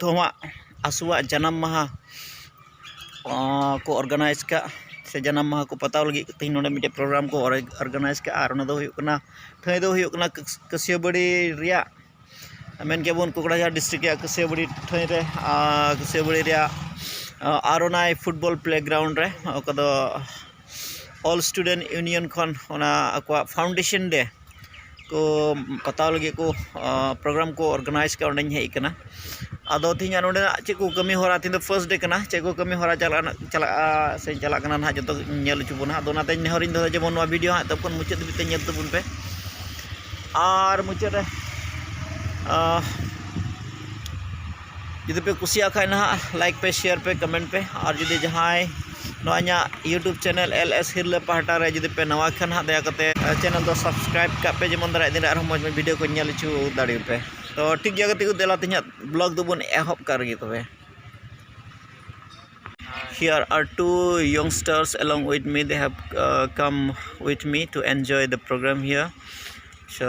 ᱫᱷᱚᱣᱟᱜ ᱟᱥᱩᱣᱟᱜ ᱡᱟᱱᱟᱢ ᱢᱟᱦᱟ ᱠᱚ ᱚᱨᱜᱟᱱᱟᱭᱤᱡᱽ ᱠᱟᱜ ᱥᱮ ᱡᱟᱱᱟᱢ ᱢᱟᱦᱟ ᱠᱚ ᱯᱟᱛᱟᱣ ᱞᱟᱹᱜᱤᱫ ᱛᱮᱦᱮᱧ ᱱᱚᱰᱮ ᱢᱤᱫᱴᱮᱱ ᱯᱨᱳᱜᱨᱟᱢ ᱠᱚ ᱚᱨᱜᱟᱱᱟᱭᱤᱡᱽ ᱠᱟᱜᱼᱟ ᱟᱨ ᱚᱱᱟᱫᱚ ᱦᱩᱭᱩᱜ ᱠᱟᱱᱟ ᱴᱷᱟᱺᱭ ᱫᱚ ᱦᱩᱭᱩᱜ ᱠᱟᱱᱟ ᱠᱟᱹᱥᱭᱟᱹᱵᱟᱹᱲᱤ ᱨᱮᱭᱟᱜ ᱢᱮᱱ ᱠᱮᱜᱼᱟ ᱵᱚᱱ ᱠᱚᱠᱲᱟᱡᱟᱲ ᱰᱤᱥᱴᱤᱠ ᱨᱮᱭᱟᱜ ᱠᱟᱹᱥᱭᱟᱹᱵᱟᱹᱲᱤ ᱴᱷᱟᱺᱭ ᱨᱮ ᱟᱨ ᱠᱟᱹᱥᱭᱟᱹᱵᱟᱹᱲᱤ ᱨᱮᱭᱟᱜ ᱟᱨ ᱚᱱᱟ ᱯᱷᱩᱴᱵᱚᱞ ᱯᱞᱮ ᱜᱨᱟᱣᱩᱱᱰ ᱨᱮ ᱚᱠᱟ ᱫᱚ ᱚᱞ ᱥᱴᱩᱰᱮᱱᱴ ᱤᱭᱩᱱᱤᱭᱚᱱ ᱠᱷᱚᱱ ᱚᱱᱟ ᱟᱠᱚᱣᱟᱜ ᱯᱷᱟᱣᱩᱱᱰᱮᱥᱮᱱ ᱰᱮ ᱠᱚ ᱯᱟᱛᱟᱣ ᱞᱟᱹᱜᱤᱫ ᱠᱚ ᱯᱨᱳᱜᱨᱟᱢ ᱠᱚ ᱚᱨᱜᱟᱱᱟᱭᱤᱡᱽ ᱠᱟᱜᱼᱟ ᱚᱸᱰᱮᱧ ᱦᱮᱡ ᱠᱟᱱᱟ ᱟᱫᱚ ᱛᱮᱦᱮᱧᱟᱜ ᱱᱚᱰᱮᱱᱟᱜ ᱪᱮᱫ ᱠᱚ ᱠᱟᱹᱢᱤᱦᱚᱨᱟ ᱛᱮᱦᱮᱧ ᱫᱚ ᱯᱷᱟᱥᱴ ᱰᱮᱹ ᱠᱟᱱᱟ ᱪᱮᱫ ᱠᱚ ᱠᱟᱹᱢᱤᱦᱚᱨᱟ ᱪᱟᱞᱟᱜ ᱨᱮᱱᱟᱜ ᱪᱟᱞᱟᱜᱼᱟ ᱥᱮ ᱪᱟᱞᱟᱜ ᱠᱟᱱᱟ ᱦᱟᱸᱜ ᱡᱚᱛᱚ ᱜᱮᱠᱚ ᱧᱮᱞ ᱦᱚᱪᱚ ᱵᱚᱱᱟ ᱟᱫᱚ ᱚᱱᱟᱛᱮ ᱱᱮᱦᱚᱨ ᱤᱧ ᱫᱚᱦᱚᱭᱮᱫᱟ ᱡᱮᱢᱚᱱ ᱱᱚᱣᱟ ᱵᱷᱤᱰᱭᱳ ᱦᱟᱸᱜ ᱮᱛᱚᱦᱚᱵ ᱠᱷᱚᱱ ᱢᱩᱪᱟᱹᱫ ᱫᱷᱟᱹᱵᱤᱡ ᱛᱮ ᱧᱮᱞ ᱛᱟᱵᱚᱱ ᱯᱮ ᱟᱨ ᱢᱩᱪᱟᱹᱫ ᱨᱮ ᱡᱩᱫᱤ ᱯᱮ ᱠᱩᱥᱤᱭᱟᱜ ᱠᱷᱟᱡ ᱱᱟᱦᱟᱜ ᱞᱟᱭᱤᱠ ᱯᱮ ᱥᱮᱭᱟᱨ ᱯᱮ ᱠᱚᱢᱮᱱᱴ ᱯᱮ ᱟᱨ ᱡᱩᱫᱤ ᱡᱟᱦᱟᱸᱭ ᱱᱚᱣᱟ ᱤᱧᱟᱹᱜ ᱤᱭᱩᱴᱩᱵᱽ ᱪᱮᱱᱮᱞ ᱮᱞ ᱮᱥ ᱦᱤᱨᱞᱟᱹ ᱯᱟᱦᱴᱟ ᱨᱮ ᱡᱩᱫᱤ ᱯᱮ ᱱᱟᱣᱟ ᱠᱷᱟᱱ ᱦᱟᱸᱜ ᱫᱟᱭᱟ ᱠᱟᱛᱮ ᱪᱮᱱᱮᱞ ᱫᱚ ᱥᱟᱵᱥᱠᱨᱟᱭᱤᱵᱽ ᱠᱟᱜ ᱯᱮ ᱡᱮᱢᱚᱱ ᱫᱟᱨᱟᱭ ᱫᱤᱱ ᱨᱮ ᱟᱨᱦᱚᱸ ᱢᱚᱡᱽ ᱢᱚᱡᱽ ᱵᱷᱤᱰᱤᱭᱳ ᱠᱚ ᱧᱮᱞ ᱦᱚᱪᱚ ᱫᱟᱲᱮᱭᱟᱜ ᱯᱮ ᱛᱚ ᱴᱷᱤᱠ ᱜᱮᱭᱟ ᱜᱟᱛᱮ ᱠᱚ ᱫᱮᱞᱟ ᱛᱮᱦᱮᱧᱟᱜ ᱵᱞᱚᱜ ᱫᱚᱵᱚᱱ ᱮᱦᱚᱵ ᱠᱟᱜ ᱨᱮᱜᱮ ᱛᱚᱵᱮ Here are two youngsters along with me. They have uh, come with me to enjoy the program here. So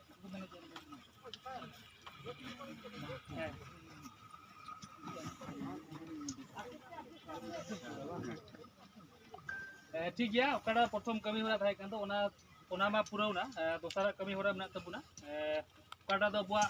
ᱴᱷᱤᱠ ᱜᱮᱭᱟ ᱚᱠᱟᱴᱟᱜ ᱯᱨᱚᱛᱷᱚᱢ ᱠᱟᱹᱢᱤ ᱦᱚᱨᱟ ᱛᱟᱦᱮᱸ ᱠᱟᱱ ᱫᱚ ᱚᱱᱟ ᱚᱱᱟ ᱢᱟ ᱯᱩᱨᱟᱹᱣᱱᱟ ᱫᱚᱥᱟᱨᱟᱜ ᱠᱟᱹᱢᱤ ᱦᱚᱨᱟ ᱢᱮᱱᱟᱜ ᱛᱟᱵᱚᱱᱟ ᱚᱠᱟᱴᱟᱜ ᱫᱚ ᱟᱵᱚᱣᱟᱜ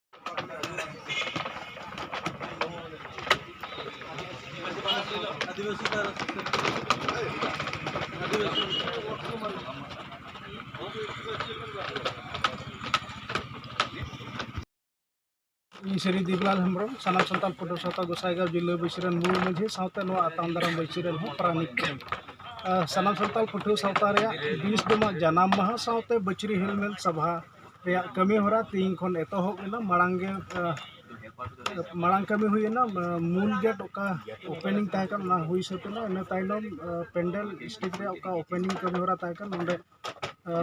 ᱤᱧ ᱥᱨᱤ ᱫᱮᱵᱞᱟᱞ ᱦᱮᱢᱵᱨᱚᱢ ᱥᱟᱱᱟᱢ ᱥᱟᱱᱛᱟᱲ ᱯᱟᱹᱴᱷᱩᱣᱟᱹ ᱥᱟᱶᱛᱟ ᱜᱚᱥᱟᱭᱜᱟᱸᱣ ᱡᱤᱞᱟᱹ ᱵᱟᱹᱭᱥᱤ ᱨᱮᱱ ᱢᱩᱞ ᱢᱟᱺᱡᱷᱤ ᱥᱟᱶᱛᱮ ᱱᱚᱣᱟ ᱟᱛᱟᱝ ᱫᱟᱨᱟᱢ ᱵᱟᱹᱭᱥᱤ ᱨᱮᱱ ᱦᱚᱸ ᱯᱟᱨᱟᱱᱤᱠ ᱠᱟᱹᱱᱟᱹᱧ ᱥᱟᱱᱟᱢ ᱥᱟᱱᱛᱟᱲ ᱯᱟᱹᱴᱷᱩᱣᱟᱹ ᱥᱟᱶᱛᱟ ᱨᱮᱭᱟᱜ ᱵᱤᱥ ᱫᱚ ᱱᱚᱣᱟ ᱡᱟᱱᱟᱢ ᱢᱟᱦᱟ ᱥᱟᱶᱛᱮ ᱵᱟᱹᱪᱨᱤ ᱦᱮᱞᱢᱮᱞ ᱥᱚᱵᱷᱟ ᱨᱮᱭᱟᱜ ᱠᱟᱹᱢᱤ ᱦᱚᱨᱟ ᱛᱮᱦᱮᱧ ᱠᱷᱚᱱ ᱮᱛᱚᱦᱚᱵ ᱮᱱᱟ ᱢᱟᱲᱟᱝ ᱜᱮ ᱢᱟᱲᱟᱝ ᱠᱟᱹᱢᱤ ᱦᱩᱭᱮᱱᱟ ᱢᱩᱞ ᱜᱮᱴ ᱚᱠᱟ ᱳᱯᱮᱱᱤᱝ ᱛᱟᱦᱮᱸ ᱠᱟᱱᱟ ᱚᱱᱟ ᱦᱩᱭ ᱥᱟᱹᱛ ᱮᱱᱟ ᱤᱱᱟᱹ ᱛᱟᱭᱱᱚᱢ ᱯᱮᱱᱰᱮᱞ ᱥᱴᱮᱡᱽ ᱨᱮᱭᱟᱜ ᱚᱠᱟ ᱳᱯᱮᱱᱤᱝ ᱠᱟᱹᱢᱤ ᱦᱚᱨᱟ ᱛᱟᱦᱮᱸ ᱠᱟᱱᱟ ᱚᱸᱰᱮ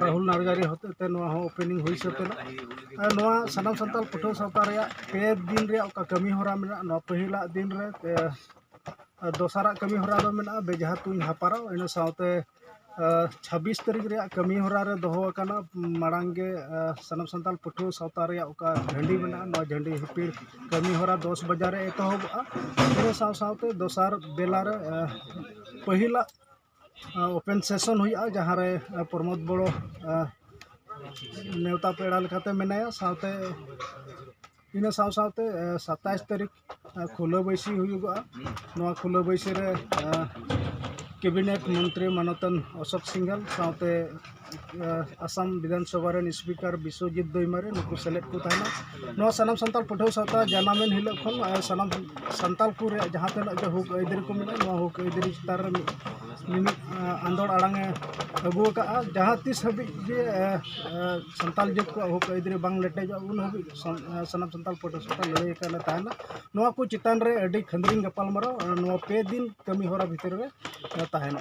ᱨᱟᱦᱩᱞ ᱱᱟᱨᱜᱟᱨᱤ ᱦᱚᱛᱮ ᱛᱮ ᱱᱚᱣᱟ ᱦᱚᱸ ᱳᱯᱮᱱᱤᱝ ᱦᱩᱭ ᱥᱟᱹᱛ ᱮᱱᱟ ᱟᱨ ᱱᱚᱣᱟ ᱥᱟᱱᱟᱢ ᱥᱟᱱᱛᱟᱲ ᱯᱟᱹᱴᱷᱩᱣᱟᱹ ᱥᱟᱶᱛᱟ ᱨᱮᱭᱟᱜ ᱯᱮ ᱫᱤᱱ ᱨᱮᱭᱟᱜ ᱚᱠᱟ ᱠᱟᱹᱢᱤ ᱦᱚᱨᱟ ᱢᱮᱱᱟᱜᱼᱟ ᱱᱚᱣᱟ ᱯᱟᱹᱦᱤᱞᱟᱜ ᱫᱤᱱ ᱨᱮ ᱟᱨ ᱫᱚᱥᱟᱨᱟᱜ ᱠᱟᱹᱢᱤ ᱦᱚᱨᱟ ᱫᱚ ᱢᱮᱱᱟᱜᱼᱟ ᱵᱮᱡᱷᱟ ᱛᱩᱧ ᱦᱮᱯᱨᱟᱣ ᱤᱱᱟᱹ ᱥᱟᱶᱛᱮ ᱪᱷᱟᱵᱵᱤᱥ ᱛᱟᱹᱨᱤᱠᱷ ᱨᱮᱭᱟᱜ ᱠᱟᱹᱢᱤ ᱦᱚᱨᱟ ᱨᱮ ᱫᱚᱦᱚ ᱟᱠᱟᱱᱟ ᱢᱟᱲᱟᱝ ᱜᱮ ᱥᱟᱱᱟᱢ ᱥᱟᱱᱛᱟᱲ ᱯᱟᱹᱴᱷᱩᱣᱟᱹ ᱥᱟᱶᱛᱟ ᱨᱮᱭᱟᱜ ᱚᱠᱟ ᱦᱟᱺᱰᱤ ᱢᱮᱱᱟᱜᱼᱟ ᱱᱚᱣᱟ ᱦᱟᱺᱰᱤ ᱦᱤᱯᱤᱲ ᱠᱟᱹᱢᱤ ᱦᱚᱨᱟ ᱫᱚᱥ ᱵᱟᱡᱟᱜ ᱨᱮ ᱮᱛᱚᱦᱚᱵᱚᱜᱼᱟ ᱤᱱᱟᱹ ᱥᱟᱶ ᱥᱟᱶᱛᱮ ᱫᱚᱥᱟᱨ ᱵᱮᱞᱟ ᱨᱮ ᱯᱟᱹᱦᱤᱞᱟᱜ ᱳᱯᱮᱱ ᱥᱮᱥᱚᱱ ᱦᱩᱭᱩᱜᱼᱟ ᱡᱟᱦᱟᱸ ᱨᱮ ᱯᱨᱚᱢᱳᱫᱽ ᱵᱚᱲᱚ ᱱᱮᱶᱛᱟ ᱯᱮᱲᱟ ᱞᱮᱠᱟᱛᱮ ᱢᱮᱱᱟᱭᱟ ᱥᱟᱶᱛᱮ ᱤᱱᱟᱹ ᱥᱟᱶ ᱥᱟᱶᱛᱮ ᱥᱟᱛᱟᱥ ᱛᱟᱹᱨᱤᱠᱷ ᱠᱷᱩᱞᱟᱹ ᱵᱟᱹᱭᱥᱤ ᱦᱩᱭᱩᱜᱚᱜᱼᱟ ᱱᱚᱣᱟ ᱠᱷᱩᱞᱟᱹ ᱵᱟᱹᱭᱥᱤ ᱨᱮ ᱠᱮᱵᱤᱱᱮᱴ ᱢᱚᱱᱛᱨᱤ ᱢᱟᱱᱚᱛᱟᱱ ᱚᱥᱳᱠ ᱥᱤᱝᱜᱷᱟᱞ ᱥᱟᱶᱛᱮ ᱟᱥᱟᱢ ᱵᱤᱫᱷᱟᱱ ᱥᱚᱵᱷᱟ ᱨᱮᱱ ᱥᱯᱤᱠᱟᱨ ᱵᱤᱥᱥᱚᱡᱤᱛ ᱫᱳᱭᱢᱟᱨᱮ ᱱᱩᱠᱩ ᱥᱮᱞᱮᱫ ᱠᱚ ᱛᱟᱦᱮᱱᱟ ᱱᱚᱣᱟ ᱥᱟᱱᱟᱢ ᱥᱟᱱᱛᱟᱲ ᱯᱟᱹᱴᱷᱩᱣᱟᱹ ᱥᱟᱶᱛᱟ ᱡᱟᱱᱟᱢᱮᱱ ᱦᱤᱞᱳᱜ ᱠᱷᱚᱱ ᱥᱟᱱᱟᱢ ᱥᱟᱱᱛᱟᱲ ᱠᱚ ᱨᱮᱭᱟᱜ ᱡᱟᱦᱟᱸ ᱛᱤᱱᱟᱹᱜ ᱜᱮ ᱦᱚᱸᱠ ᱟᱹᱭᱫᱟᱹᱨᱤ ᱠᱚ ᱢᱮᱱᱟᱜᱼᱟ ᱱᱚᱣᱟ ᱦᱚᱸᱠ ᱟᱹᱭᱫᱟᱹᱨᱤ ᱪᱮᱛᱟᱱ ᱨᱮ ᱢᱤᱢᱤᱫ ᱟᱸᱫᱳᱲ ᱟᱲᱟᱝ ᱮ ᱟᱹᱜᱩ ᱟᱠᱟᱫᱼᱟ ᱡᱟᱦᱟᱸ ᱛᱤᱥ ᱦᱟᱹᱵᱤᱡ ᱜᱮ ᱥᱟᱱᱛᱟᱲ ᱡᱟᱹᱛ ᱠᱚᱣᱟᱜ ᱦᱚᱸᱠ ᱟᱹᱭᱫᱟᱹᱨᱤ ᱵᱟᱝ ᱞᱮᱴᱮᱡᱚᱜᱼᱟ ᱩᱱ ᱦᱟᱹᱵᱤᱡ ᱥᱟᱱᱟᱢ ᱥᱟᱱᱛᱟᱲ ᱯᱟᱹᱴᱷᱩᱣᱟᱹ ᱥᱟᱶᱛᱟ ᱞᱟᱹᱲᱦᱟᱹᱭ ᱟᱠᱟᱫ ᱞᱮ ᱛᱟᱦᱮᱱᱟ ᱱᱚᱣᱟ ᱠᱚ ᱪᱮᱛᱟᱱ ᱨᱮ ᱟᱹᱰᱤ ᱠᱷᱟᱹᱫᱽᱨᱤᱝ ᱜᱟᱯᱟᱞᱢᱟᱨᱟᱣ ᱱᱚᱣᱟ ᱯᱮ ᱫᱤᱱ ᱠᱟᱹᱢᱤᱦᱚᱨᱟ ᱵᱷᱤᱛᱨᱤ ᱨᱮ ᱛᱟᱦᱮᱱᱟ